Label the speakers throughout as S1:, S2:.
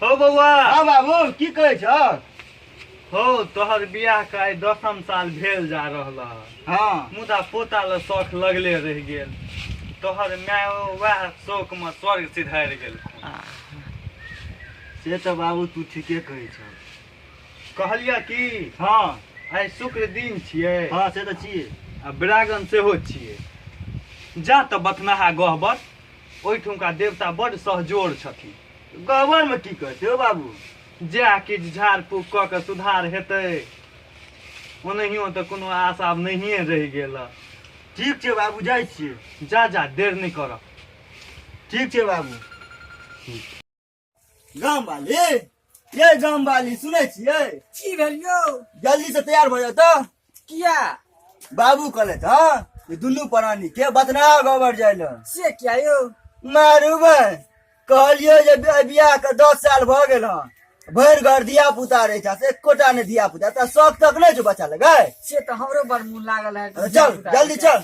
S1: हो बौआ हाँ बाबू की कहै छ हो तोहर बियाह के आइ दसम साल भेल जा रहल ह। हाँ मुदा पोता ल शौक लगले रहि गेल तोहर माय वएह शौक में स्वर्ग सिधारि गेल से तऽ बाबू तू ठीके कहै छ कहलियै कि हँ आइ शुक्र दिन छियै हँ से तऽ छियै आ ब्रागन सेहो छियै जा तऽ बथनाहा गहबर ओहिठुमका देवता बड्ड सहजोर छथिन गहबर मे की करतै ओ बाबू जएह किछु झाड़ फूक कऽ के सुधार हेतै ओनाहियो तऽ कोनो आशा आब नहिए रहि गेल हँ। ठीक छै बाबू जाइ छियै जा जा देर नहि करऽ ठीक छै बाबू गाम वाली ये गाम वाली सुनै छियै की भेल यौ जल्दी से तैयार भऽ जाता किया बाबू कहले था कि दुनू प्राणी के बतना गोबर जाय लए से किया यौ मारू बे कहलियो जे बि- बियाह के दस साल भऽ गेल हँ भरि घर धिया पुता रहै छै से एकोटा नहि धिया पुता तऽ शौक तक नहि छौ बच्चा लगे से तऽ हमरो बड़ मोन लागल है चल जल्दी चल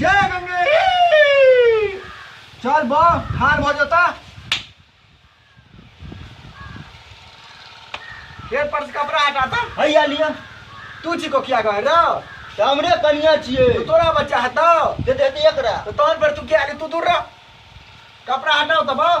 S1: जय गंगे चल बा हार भ जाता ये पर से कपड़ा हटाता हैया लिया तू छी को किया कहे रहो त हमरे कनिया छिए तो तोरा बच्चा हतो दे दे दे एकरा तो तोर पर तू क्या तू दूर रहो कपड़ा हटाओ तब आओ।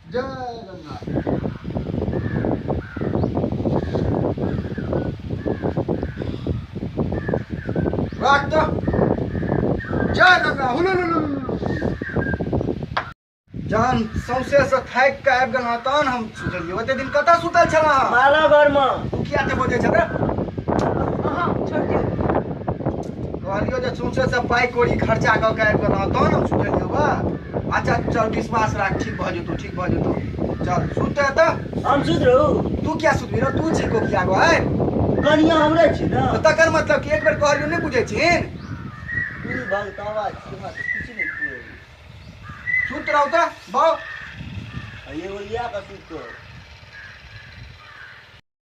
S1: जय गंगा जय गंगा जहन सौंसे से थाकि कऽ आबि गेलहुँ तहन हम सुतलियै ओते दिन कतऽ सुतल छलहुँ अहाँ? माला घरमे तू किया ते बजै छले अहाँ छोड़ दियौ कहलियो जे सौंसे से पाइ कौड़ी खर्चा कऽ कऽ आबि गेलहुँ तहन हम सुतलियै बा अच्छा चल विश्वास राख ठीक भऽ जेतौ ठीक भऽ जेतौ चल सुत तऽ हम सुत रहू तू क्या सुत रहो तू छी को किया गो है कनिया हमरे छी ना तो तकर मतलब कि एक बेर कहलियो नहीं बुझे छिन तू भल तवा छी हमरा तऽ किछु नहि कुए सुत रहो तऽ बहु ये ओलिया का सुत रहो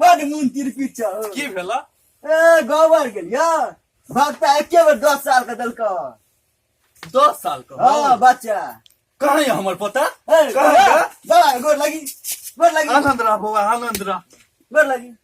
S1: बड मुन तिरपिट छ की भेल ए गबर गेल या भक्ता एके बेर दस साल के देलक दस साल के हाँ बच्चा कहाँ है हमार पोता कहाँ है? बड़ा गोर लगी गोर लगी आनंद रह बौआ आनंद रह गोर लगी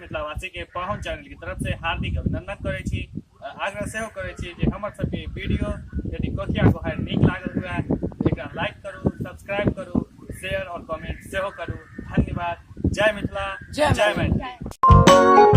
S1: मिथिलावासी के पाहुन चैनल की तरफ से हार्दिक अभिनंदन करे छी आग्रह से करे छी जे हमर सब के वीडियो यदि कोठिया गोहार नीक लागल हुए एकरा लाइक करू सब्सक्राइब करू शेयर और कमेंट से करू धन्यवाद जय मिथिला जय मैथिली